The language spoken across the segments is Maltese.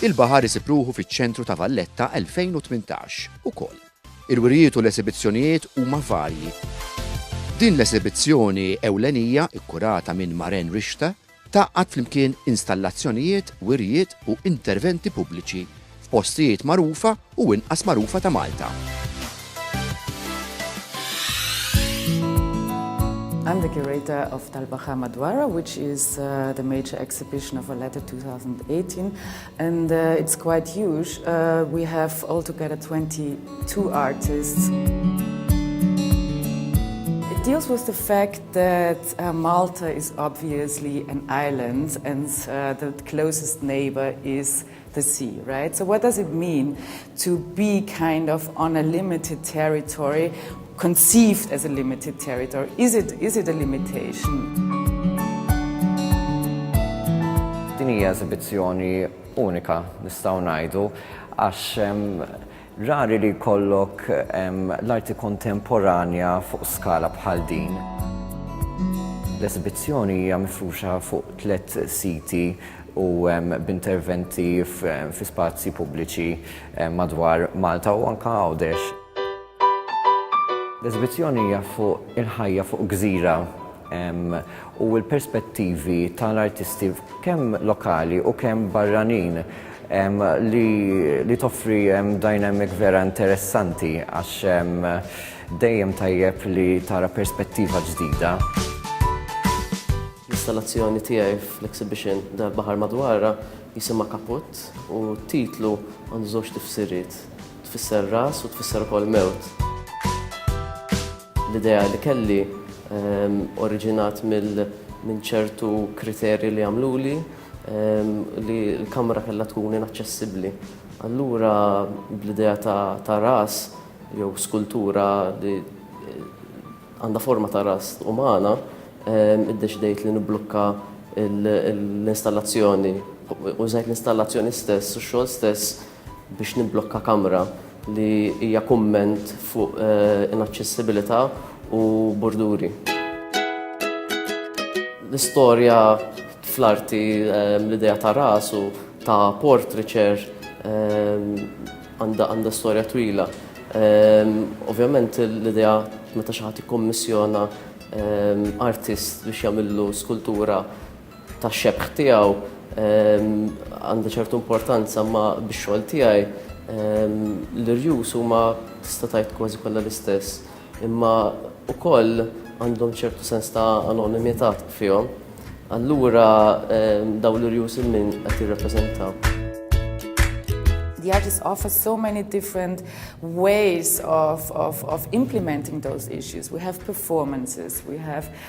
Il-baħar isib ruħu fiċ-ċentru ta' Valletta 2018 ukoll. Il-wirjiet u l-esibizzjonijiet huma varji. Din l-esibizzjoni ewlenija, ikkurata minn Maren Rixta, Tgħaqqad flimkien installazzjonijiet, wirjiet u interventi pubbliċi f'postijiet magħrufa u inqas magħrufa ta' Malta. I'm the curator of Talbaha Madwara, which is uh, the major exhibition of Valletta 2018, and uh, it's quite huge. Uh, we have altogether 22 artists. It deals with the fact that Malta is obviously an island and the closest neighbour is the sea, right? So what does it mean to be kind of on a limited territory, conceived as a limited territory? Is it, is it a limitation? Din hija eżibizzjoni unika nistgħu ngħidu għax Rari li jkollok l-arti kontemporanja fuq skala bħal din. L-esibizzjoni hija mifruxa fuq tliet siti u b'interventi fi spazji pubbliċi madwar Malta u anke Għawdex. L-esibizzjoni hija fuq il-ħajja fuq gżira. u l-perspettivi tal-artisti kemm lokali u kemm barranin li toffri dynamic vera interessanti għax dejjem tajjeb li tara perspettiva ġdida. L-installazzjoni tiegħi fl-exhibition Dar Baħar Madwarha jisimha Kaput u t-titlu għandu żewġ tifsiriet, tfisser ras u tfisser ukoll mewt. L-idea li kelli oriġinat minn ċertu kriterji li għamluli li l-kamra kellha tkun inaċċessibbli. Allura bl-idea ta' ras jew skultura li għandha forma ta' ras umana, iddeċidejt li nibblukka l-installazzjoni. Użajt l-installazzjoni stess u x-xogħol stess biex nimblokka kamra li hija kumment fuq inaċċessibilità u burduri. L-istorja fl-arti l-idea ta' rasu ta' portraiture għandha storja twila. Ovvjament l-idea meta xi ħadd jikkommissjona artist biex jagħmillu skultura tax-xebħ tiegħu għandha ċertu importanza ma bix-xogħol tiegħi l-irjus huma tista' tgħid kważi kollha l-istess, imma wkoll għandhom ċertu sens ta' anonimità fihom. Allura dawn l-irjus il-min qed jirrappreżentaw? the artists offer so many different ways of, of, of implementing those issues. We have performances, we have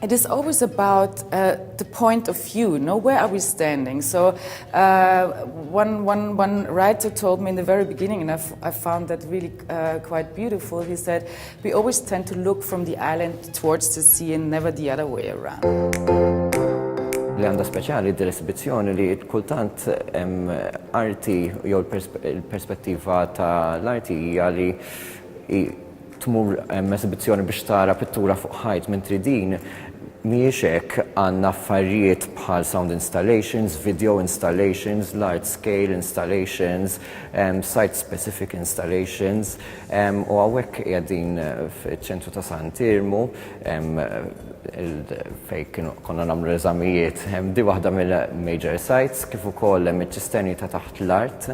It is always about uh, the point of view. No, where are we standing? So, uh, one, one, one writer told me in the very beginning, and I've, I found that really uh, quite beautiful. He said, We always tend to look from the island towards the sea and never the other way around. li għandha speċjali d-desibizzjoni li kultant arti jew l-perspettiva ta' l-arti hija li tmur esibizzjoni biex tara pittura fuq ħajt mentri din mhijiex hekk, għandna affarijiet bħal sound installations, video installations, large scale installations, site specific installations u hawnhekk qiegħdin fiċ-ċentru ta' Sant Irmu fejn kienu konna nagħmlu l-eżamijiet. Di waħda mill-major sites kif ukoll hemm iċ-ċisterni ta' taħt l-art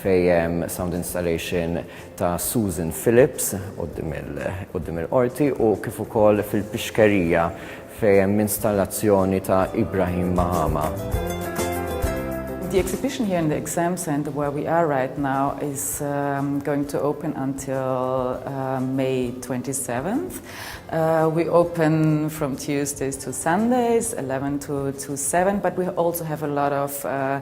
fejn hemm sound installation ta' Susan Phillips quddiem il-Qorti u kif ukoll fil-Pixkerija fejn hemm installazzjoni ta' Ibrahim Mahama. The exhibition here in the exam center where we are right now is um, going to open until uh, May 27th. Uh, we open from Tuesdays to Sundays, 11 to, to 7, but we also have a lot of uh,